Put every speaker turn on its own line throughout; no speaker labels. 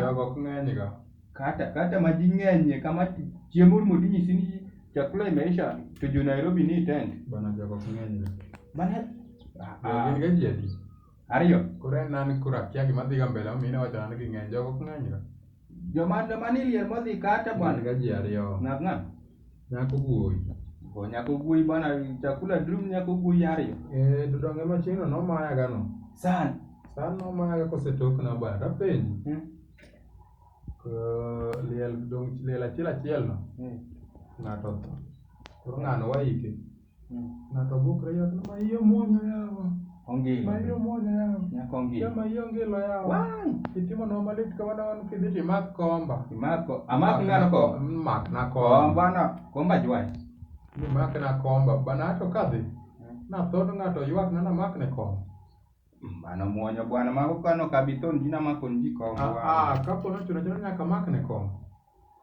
Jogo ok ng'eny
ga. Kata kata ma
ji ng'enyie kama chiemo rumo tinyisi ni chakula imeisha to jo Nairobi ni tent. Bana jogo ok ng'eny ga.
Bana Jogo
gin
ga ji adi? ariyo. Koro
en an koro
akia gima dhi ga mbele momiyo in iwacho nang'o ni ging'eny. Jogo ok ng'eny ga. Joma joma ni
liel modhi kata bwana. Wan ga ji ariyo. Ng'at
ng'at.
Nyako guoyi.
Bo nyako guoyi
bwana chakula drum nyako guoyi ariyo. Eh dudonge machino
no maya gano. San. San
no maya ga
kosetok na bwana ta penji. Hmm. Ko liel dong liel achiel achiel no. Hmm. Ng'ato. Koro ng'ano waike. Ng'ato bukre ywak ni maiye omwonyo yawa. Ongilo. Maiye
omwonyo yawa.
Nyako ongilo. Jama iye ongilo
yawa. Wai. Itimo
nwa malit kamano wan kidhi to imak komba. Imako. Amak ng'ano
ko. Mak na komba.
Komba na. Komba
jwai. Imak na
komba. Bana ato kadhi. Na thod ng'ato ywak na na mak ne komba. Mano
mwonyo bwana mago kano kabithon jina makon ji komba. Ah, ah, kapo nochuno chuno
nyaka mak ne komba.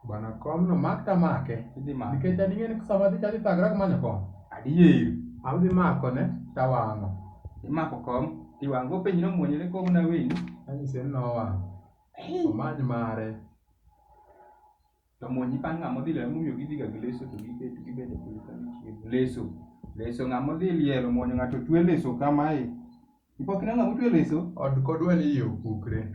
Bana kom no mak ta make. Idhi make. Nikech an ing'e ni sama adhi chadi thagrak manyo kom. Adier.
Adhi mako
ne tawang'o. Imako kom
tiwang'o. Openji no muonyo ne kom na weni. Anyise ni
nowang'o. Omany mare.
To muonyi pa ng'ama odhi lero mumiyo gidhi ga gi leso to gibet gibet e piny ka gichiemo. Leso. Leso ng'ama odhi lielo muonyo ng'ato twe leso kamae. Ipok ineno ng'ama otwe leso? Od kodwa ni iye
opukre.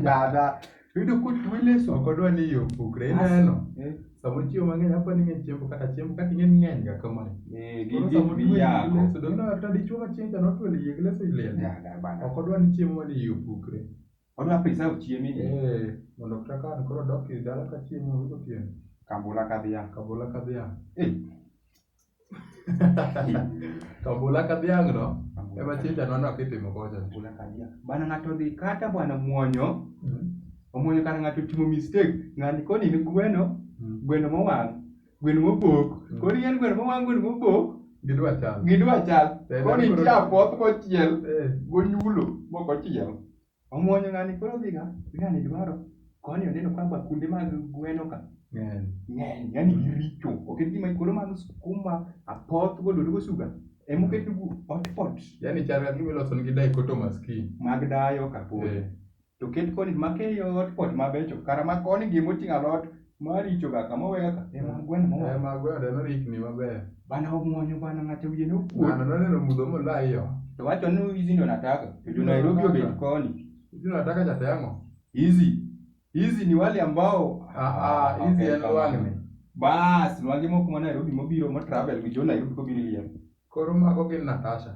Dada. Yudo kotwe leso. Ok odwa ni iye opukre.
Ineno? Eh. Sama ochiemo mang'eny apo ni ng'eny chiemo kata chiemo kata ing'e ng'eny ga kama. Eh, gi gi
biyako. Leso dong na ta dichuo ma
chieng' cha notwe iye leso ilel. Dada bana. Ok odwa ni chiemo ni iye opukre. Odwa preserve
chiemi ni. Eh, mondo kata ka
an koro dok e dala ka chiemo onge otieno. Kabula ka dhiang'.
Kabula ka dhiang'. Eh.
Kabula ka dhiang' no, ema chinja no nok itimo kocha. Kabula ka dhiang'. Bana
ng'ato dhi kata bwana muonyo, Mm. omuonyo kata ng'ato otimo mistake, ng'ani koni ni gweno, Mm. gweno mowang'. Gwen mobok. Mm. Koro yien gwen mowang' gwen mobok. Gidwa chal. Gidwa
chal. Eh,
koro nitie apoth mochiel eh. gonyulo mok ochiel. Omuonyo ng'ani koro dhiga. Ng'ani dwaro. Koni oneno ka bakunde mag gweno ka. Ng'eny. Ng'eny. Yani giricho. Oket gima koro mag skuma, apoth, godolo, gosuga. Emoket gu hot pot. Yani chal gimiloso
nigi dai koto maski. Mag dayo kapod.
Eh. to ket koni makeyo ot kot mabecho kara ma koni gi moting'o alot maricho ga kama owe ga ema gweno mo ema gweno no rikni
maber bana omuonyo bana
ng'ato wiye no kuot ng'ano noneno mudho
molayo to wacho ni hizi
ndo nataka to jo Nairobi obet koni hizi ndo nataka cha
temo hizi
hizi ni wale ambao ah ah hizi en
wale bas
nwange moko ma Nairobi mobiro mo travel gi jo Nairobi kobiro liel koro mago gin
Natasha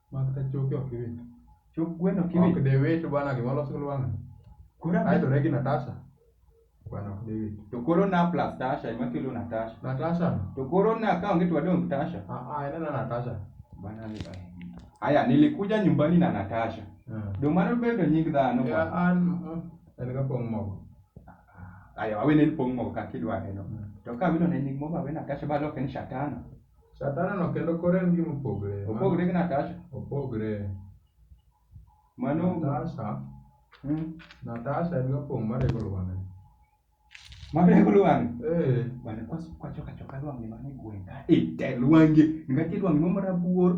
Mak ta choke ok iwit. Chok gweno ok
iwit. Ok de wit bwana gima
loso lwang'ni. Koro Ae to regi Natasha. Bwana ok de wit. To koro na plus
Tasha ema kelo Natasha. Natasha. To koro
na ka
onge to wadong Tasha. Ah ah ena na Natasha.
Bwana
ni ai. Aya nilikuja nyumbani na Natasha. Ah. Do mano bedo nying dhano. Ya bwana. an
mm, en ga pong mogo. Aya
wawe ne pong' mogo kaka idware no. Mm. To ka wino ne nying mogo awe Natasha ba loke ni Shatana. Satan no
kendo koro en gima opogore. Opogore gi Natasha.
Opogore. Mano Natasha.
Hmm. Natasha en gapong' marego lwane.
Marego lwane. Eh. Wane kwacho kacho kalwange mane gweng'. Ite lwange. Ngati lwange marabuor.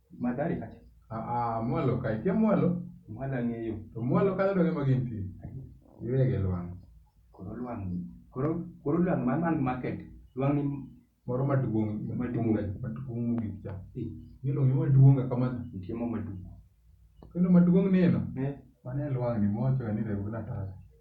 Madhari kacha. Ah, ah, mwalo ka,
ikia mwalo? Mwalo ang'eyo.
To mwalo kanyo to gima
gintie. Iwege lwang'. Koro lwang'
ni. Koro, koro lwang' man man market. Lwang' ni moro maduong'
maduong' maduong' mogik cha. Eh, Milo ni maduong' kamano. nitie mo maduong'.
Kendo
maduong' neno. Eh, Mane lwang' ni mocho ni rego na taya.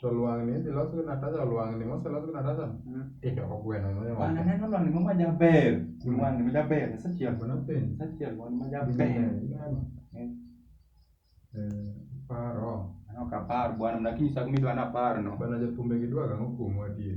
To lwang'ni idhi los gi Natasha lwang'ni moselos gi Natasha tidoko gweno no Bana ema. neno lwang'ni moro
majaber. Lwang'ni majaber. Asechiel. Gweno piny. Asechiel
lwang'ni majaber.
Ineno?
Eh. Eh, paro. Aneno ka apar
bwana, mna kinyisa gima idwa ni aparno. Bana jothumbe gidwaga ang'o
kuomwa adier?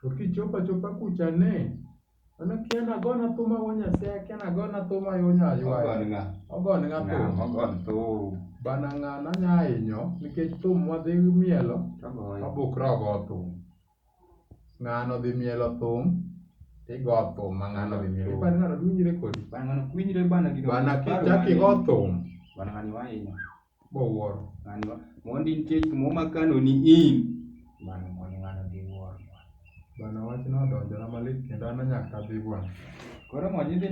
To kichopo
achopa kucha ne, an akia ni agone thum awuo Nyasaye akia ni agone thum ayuo nya aywayo. Ogon ng'a? Ogon ng'a Ng'a thum? mogon thum?
Bana ng'ano anya
hinyo nikech thum mwadhi mielo Togoyo. wabukra ogo thum. Ng'ano dhi mielo thum tigo thum ma ng'ano dhi mielo. Ipani ng'ano dwinjre kodi? Bana ng'ano kwinjre bana
gino. Bana kichaki go
thum. Bana ng'ani wahinyo.
bowuoro
ng'ani ma mondi
nitie gik moro makanoni in mano mondi ng'ano dhi wuoro bwana.
Bwana wachno
odonjona
malit kendo an to
nyaka
adhi bwana. Koro mondi idhi